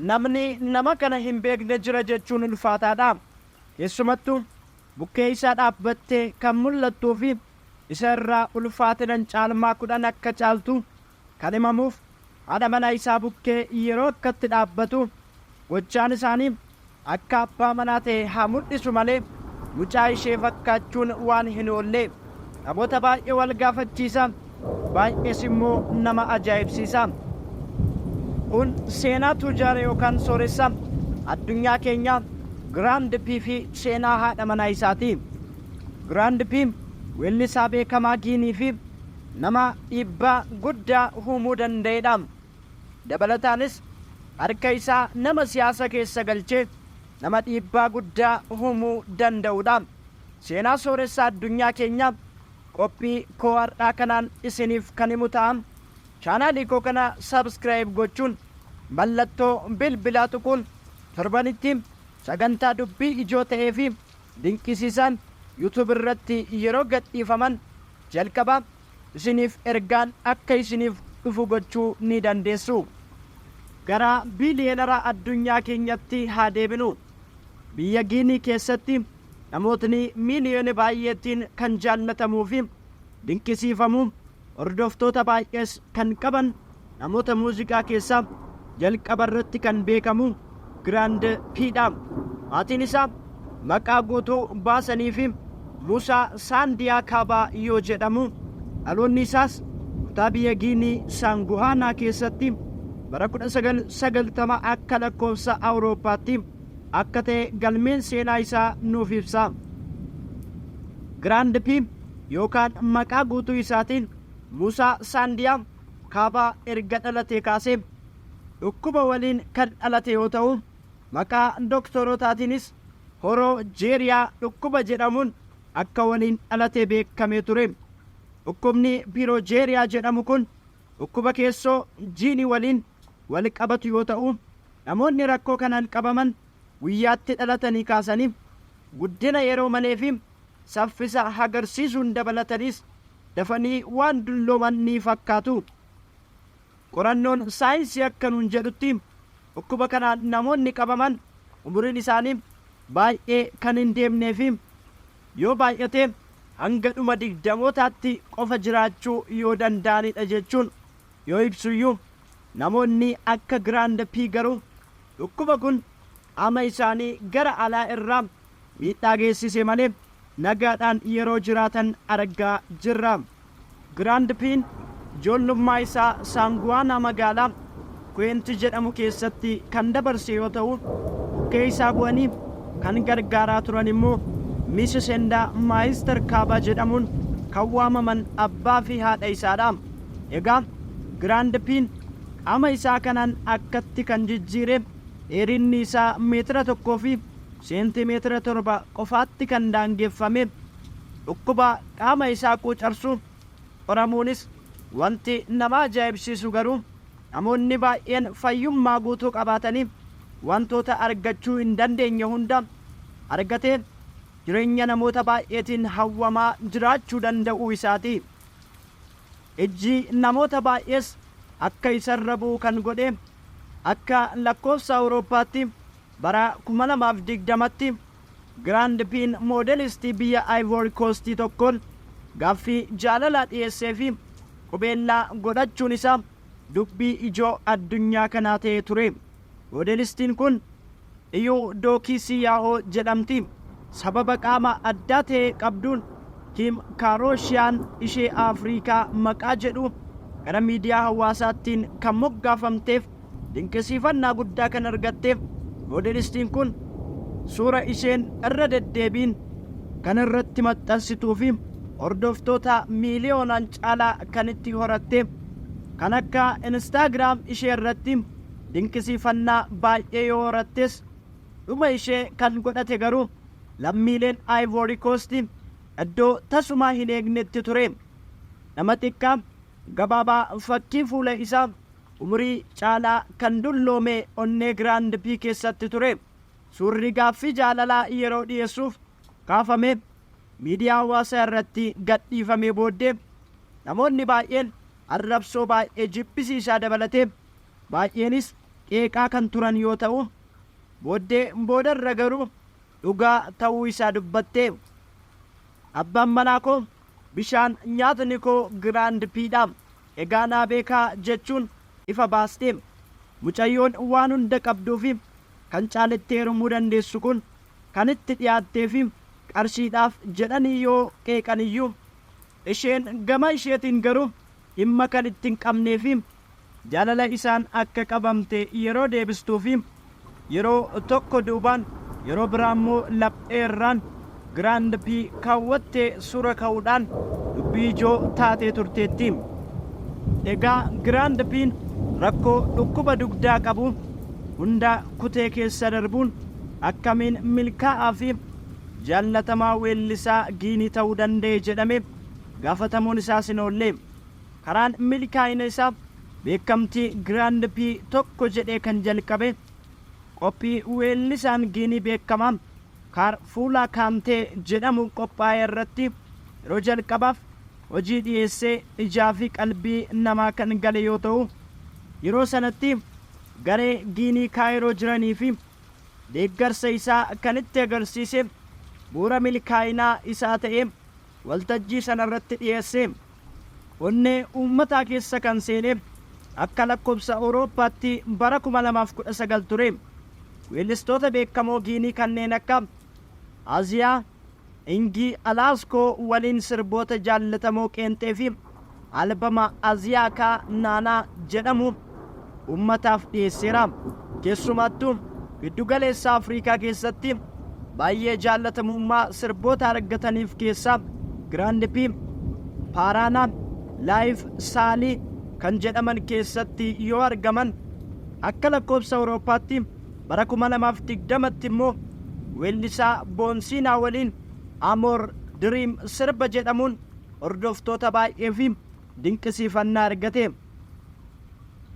Namni nama kana hin beekne jira jechuun ulfaataadha. Keessumattuu bukkee isaa dhaabbattee kan mul'attuu fi isa irraa ulfaatinan caalmaa kudhan akka caaltu kan himamuuf haadha manaa isaa bukkee yeroo akkatti dhaabbatu gochaan isaanii Akka abbaa manaa ta'e haa mul'isu malee mucaa ishee fakkaachuun waan hin oolle. Namoota baay'ee wal gaafachiisa, baay'ees immoo nama ajaa'ibsiisa. Kun seenaa tujaara yookaan sooressa addunyaa keenyaa Giraand P fi seenaa haadha manaa isaati. Giraand P weellisaa beekamaa Giinii fi nama dhiibbaa guddaa uumuu danda'edha. Dabalataanis harka isaa nama siyaasa keessa galchee nama dhiibbaa guddaa humuu danda'uudha. Seenaa sooressaa addunyaa keenyaa qophii koo har'aa kanaan isiniif kan himu ta'a. Chaanaalii koo kana subscribe gochuun mallattoo bilbilaa tuquun torbanitti sagantaa dubbii ijoo ta'ee fi dinqisiisaan YouTube irratti yeroo gadhiifaman jalqaba isiniif ergaan akka isiniif dhufu gochuu ni dandeessu. Gara biiliyeenara addunyaa keenyatti haa deebinu. Biyya Giinii keessatti namootni miiliyoona baay'eetiin kan jaallatamuu fi dinqisiifamu, hordoftoota baay'ees kan qaban Namoota muuziqaa keessaa jalqaba irratti kan beekamu Grand P dha. Maatiin isaa maqaa guutuu baasaniifi Muusaa Saandiyaa Kaabaa yoo jedhamu, dhaloonni isaas kutaa biyya Giinii Saanguhaanaa keessatti bara 1990 akka lakkoofsa Awurooppaatti akka ta'e galmeen seenaa isaa nuuf ibsa. Grand P yookaan maqaa guutuu isaatiin Muusaa Saandiyaa Kaabaa erga dhalatee kaasee dhukkuba waliin kan dhalate yoo ta'u, maqaa doktorotaatiinis Horoo Jeeriyaa dhukkuba jedhamuun akka waliin dhalate beekamee ture. Dhukkubni Pirojeeriyaa jedhamu kun dhukkuba keessoo jiinii waliin wal qabatu yoo ta'u, namoonni rakkoo kanaan qabaman guyyaatti dhalatanii kaasanii guddina yeroo maleefi saffisa hagarsiisuun dabalataniis dafanii waan dullooman ni fakkaatu. Qorannoon saayinsii akka nuun jedhutti dhukkuba kanaan namoonni qabaman umuriin isaanii baay'ee kan hin deemnee fi yoo baay'ate hanga dhuma digdamootaatti qofa jiraachuu yoo danda'anidha jechuun yoo ibsuyyuu namoonni akka Grand P garuu dhukkuba kun qaama isaanii gara alaa irraa miidhaa geessise malee nagaadhaan yeroo jiraatan argaa jirra. Giraand Piin ijoollummaa isaa Saanguwaanaa magaalaa Kuweenti jedhamu keessatti kan dabarse yoo ta'u, bukkee isaa bu'anii kan gargaaraa turan immoo Miss Sendaa Maayister Kaabaa jedhamuun kan waamaman abbaa fi haadha isaa dha. Egaa Giraand Piin qaama isaa kanaan akkatti kan jijjiire dheerinni isaa meetira tokkoo fi seentimeetira 7 qofaatti kan daangeffame dhukkuba qaama isaa quucarsu qoramuunis wanti nama ajaa'ibsiisu garuu namoonni baay'een fayyummaa guutuu qabaatanii wantoota argachuu hin dandeenye hunda argatee jireenya namoota baay'eetiin hawwamaa jiraachuu danda'uu isaati. Ijji namoota baay'ees akka isarra bu'u kan godhe akka lakkoofsa Awurooppaatti Bara 2020tti Grand Pin moodelistii biyya Ivory Coast tokkoon gaaffii jaalalaa dhiyeesseefi qubeellaa godhachuun isaa dubbii ijoo addunyaa kanaa ta'ee ture. Moodelistiin kun Iyuu Dookii Siiyaahoo jedhamti. Sababa qaama addaa ta'e qabduun Kim Kaaroshiyaan ishee Afriikaa maqaa jedhu gara miidiyaa hawaasaattiin kan moggaafamteef dinqisiifannaa guddaa kan argatteef moodelistiin kun suura isheen irra deddeebiin kan irratti maxxansituu fi hordoftoota miiliyoonaan caalaa kan itti horatte kan akka Instagram ishee irratti dinqisiifannaa baay'ee yoo horattes dhuma ishee kan godhate garuu lammiileen Ivory Coast iddoo tasumaa hin eegnetti ture. Nama xiqqaa, gabaabaa fakkii fuula isaa Umurii caalaa kan dulloome onnee Grand P keessatti ture. Suurri gaaffii jaalalaa yeroo dhiyeessuuf kaafame miidiyaa hawaasaa irratti gadhiifamee booddee namoonni baay'een arrabsoo baay'ee jibbisiisaa dabalatee baay'eenis qeeqaa kan turan yoo ta'u, booddee boodarra garuu dhugaa ta'uu isaa dubbatte. Abbaan manaa koo bishaan nyaatni koo Giraand P dha. Egaa naa beekaa jechuun ifa baaste. Mucayyoon waan hunda qabduufi kan caaletti heerumuu dandeessu kun kan itti dhiyaatteefi qarshiidhaaf jedhanii yoo qeeqaniyyuu, isheen gama isheetiin garuu dhimma kan itti hin qabnee fi jaalala isaan akka qabamte yeroo deebistuu fi yeroo tokko duubaan yeroo biraa immoo laphee irraan, grand P, kaawwattee suura ka'uudhaan dubbii ijoo taatee turteetti. Egaa grand P'n rakkoo dhukkuba dugdaa qabu hunda kutee keessa darbuun akkamiin milkaa'aa fi jaallatamaa weellisaa Giinii ta'uu danda'e jedhamee? gaafatamuun isaas hin oolle. Karaan milkaa'ina isaa beekamtii Grand Pii tokko jedhee kan jalqabe qophii weellisaan Giinii beekamaa Kaar Fuulaa Kaantee jedhamu qophaa'e irratti yeroo jalqabaaf hojii dhiyeessee ijaa fi qalbii namaa kan gale yoo ta'u, yeroo sanatti garee Giinii Kaayiroo jiraniifi deeggarsa isaa kan itti agarsiise bu'uura milkaa'inaa isaa ta'e. waltajjii sana irratti dhiyeesse onnee uummataa keessa kan seene akka lakkobsa Awurooppaatti bara 2019 ture. Weellistoota beekamoo Giinii kanneen akka Aziyaa, Ingii Alaaskoo waliin sirboota jaallatamoo qeenxee fi albama Aziyaakaa Naanaa jedhamu ummataaf dhiyeesseera. Keessumattuu giddu galeessa Afriikaa keessatti baay'ee jaallatamummaa sirboota argataniif keessaa Grand P, Paaraanaa, Laayif Saalii kan jedhaman keessatti yoo argaman akka lakkoofsa Awurooppaatti bara 2020tti immoo weellisaa Boonsiinaa waliin Amoor Diriim sirba jedhamuun hordoftoota baay'ee fi dinqisiifannaa argate.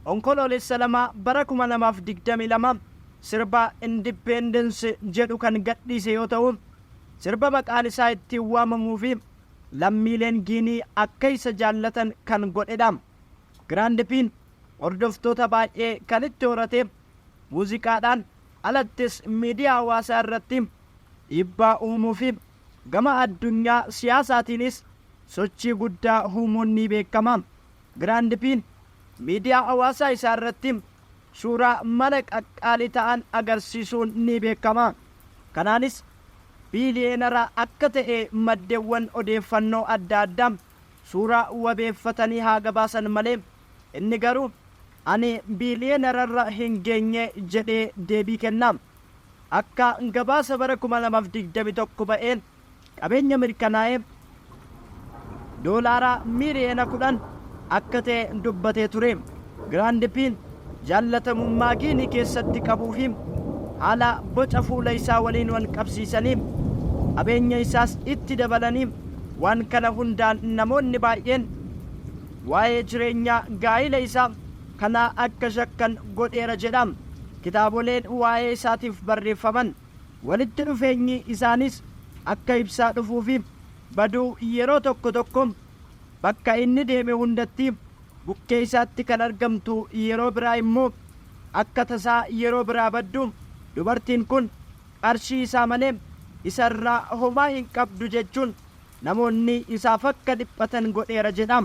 Onkoloolessa 2 bara 2022 sirba Independence jedhu kan gadhiise yoo ta'u, sirba maqaan isaa ittiin waamamuu fi lammiileen Giinii akka isa jaallatan kan godhedha. Grand P'n hordoftoota baay'ee kan itti horate muuziqaadhaan alattis miidiyaa hawaasaa irratti dhiibbaa uumuu fi Gama addunyaa siyaasaatiinis sochii guddaa uumuun ni beekama. Giraand Piin miidiyaa hawaasaa isaa irratti suuraa mana qaqqaalii ta'an agarsiisuun ni beekama. Kanaanis biiliyeenara akka ta'e maddeewwan odeeffannoo adda addaa suuraa wabeeffatanii haa gabaasan malee, inni garuu ani biiliyeenararra hin geenye jedhee deebii kenna. Akka gabaasa bara 2021 ba'een qabeenya mirkanaa'ee Doolaara miiliyoona 10 akka ta'e dubbatee ture. Giraand Piin jaallatamummaa Giinii keessatti qabuu fi haala boca fuula isaa waliin wal qabsiisanii qabeenya isaas itti dabalanii waan kana hundaan namoonni baay'een waa'ee jireenyaa gaa'ila isaa kanaa akka shakkan godheera jedha. kitaaboleen waa'ee isaatiif barreeffaman walitti dhufeenyi isaaniis akka ibsaa dhufuu fi baduu yeroo tokko tokko bakka inni deeme hundatti bukkee isaatti kan argamtu yeroo biraa immoo akka tasaa yeroo biraa baddu dubartiin kun qarshii isaa malee isa irraa homaa hin qabdu jechuun namoonni isaaf akka dhiphatan godheera jedha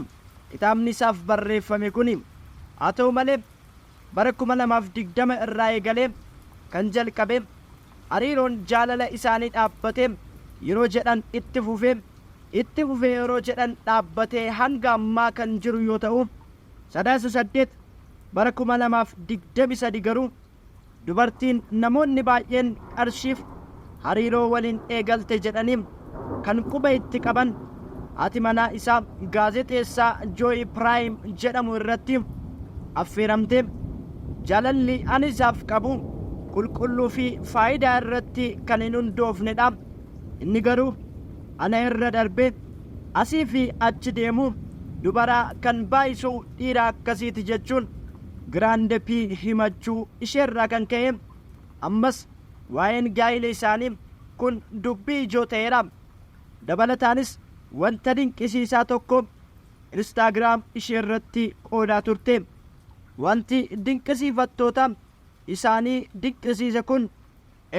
kitaabni isaaf barreeffame kuni. Haa ta'u malee. Bara 2020 irraa eegalee kan jalqabe hariiroon jaalala isaanii dhaabbate yeroo jedhan itti fufe, itti fufe yeroo jedhan dhaabbate hanga ammaa kan jiru yoo ta'u, Sadaasa 8 bara 2023 garuu, Dubartiin namoonni baay'een qarshiif hariiroo waliin eegalte jedhanii kan quba itti qaban haati manaa isaa gaazexeessaa Jooyi Piraayim jedhamu irratti affeeramtee jaalalli ani isaaf qabu qulqulluu fi faayidaa irratti kan hin hundoofne dha. Inni garuu ana irra darbee asii fi achi deemuu dubaraa kan baay'isuu dhiira akkasiiti jechuun Grande P himachuu isheerraa kan ka'e ammas waa'een gaa'ila isaanii kun dubbii ijoo ta'eera. Dabalataanis wanta dinqisiisaa tokko Instagram isheerratti qoodaa turte. Wanti dinqisiifattoota isaanii dinqisiise kun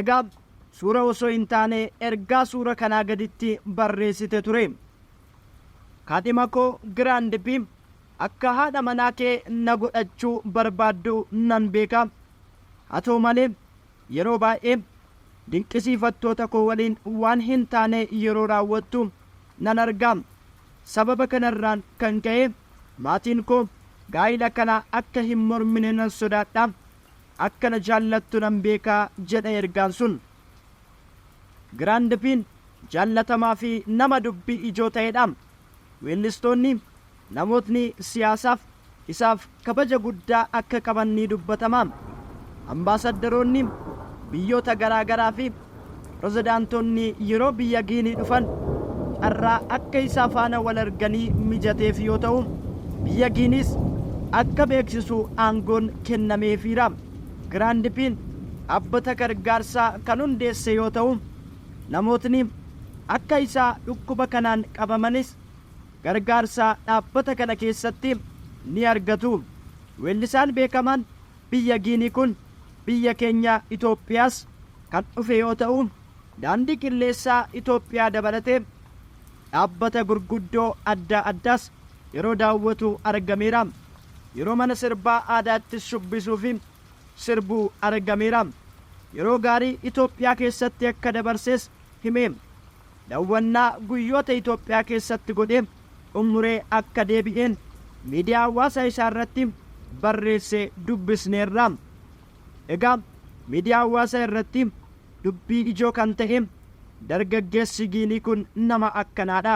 egaa suura osoo hin taane ergaa suura kanaa gaditti barreessite ture. Kaadhima koo Grande P Akka haadha manaa kee na godhachuu barbaaddu nan beeka. Haa ta'u malee, yeroo baay'ee dinqisiifattoota koo waliin waan hin taane yeroo raawwattu nan arga. Sababa kanarraan kan ka'e maatiin koo gaa'ila kana akka hin mormine nan sodaadha. Akka na jaallattu nan beeka, jedha ergaan sun. Giraand Piin jaallatamaa fi nama dubbii ijoo ta'edha. Weellistoonni Namootni siyaasaaf isaaf kabaja guddaa akka qaban ni dubbatama. Ambaasaddaroonni biyyoota garaa garaa fi pirezidaantonni yeroo biyya Giinii dhufan carraa akka isaa faana wal arganii mijateef yoo ta'u, biyya Giiniis akka beeksisu aangoon kennameefiira. Giraand Piin dhaabbata gargaarsaa kan hundeesse yoo ta'u, namootni akka isaa dhukkuba kanaan qabamanis, Gargaarsa dhaabbata kana keessatti ni argatu. Weellisaan beekamaan biyya Giinii kun biyya keenya Itoophiyaas kan dhufe yoo ta'u, Daandii Qilleessaa Itoophiyaa dabalatee dhaabbata gurguddoo addaa addaas yeroo daawwatu argameera. Yeroo mana sirbaa aadaatti shubbisuufi sirbu argameera. Yeroo gaarii Itoophiyaa keessatti akka dabarses hime. dawwannaa guyyoota Itoophiyaa keessatti godhe xummuree akka deebi'e miidiyaa hawaasaa isaa irratti barreesse dubbisneerra. Egaa miidiyaa hawaasaa irratti dubbii ijoo kan ta'e dargaggeessi Giinii kun nama akkanaadha.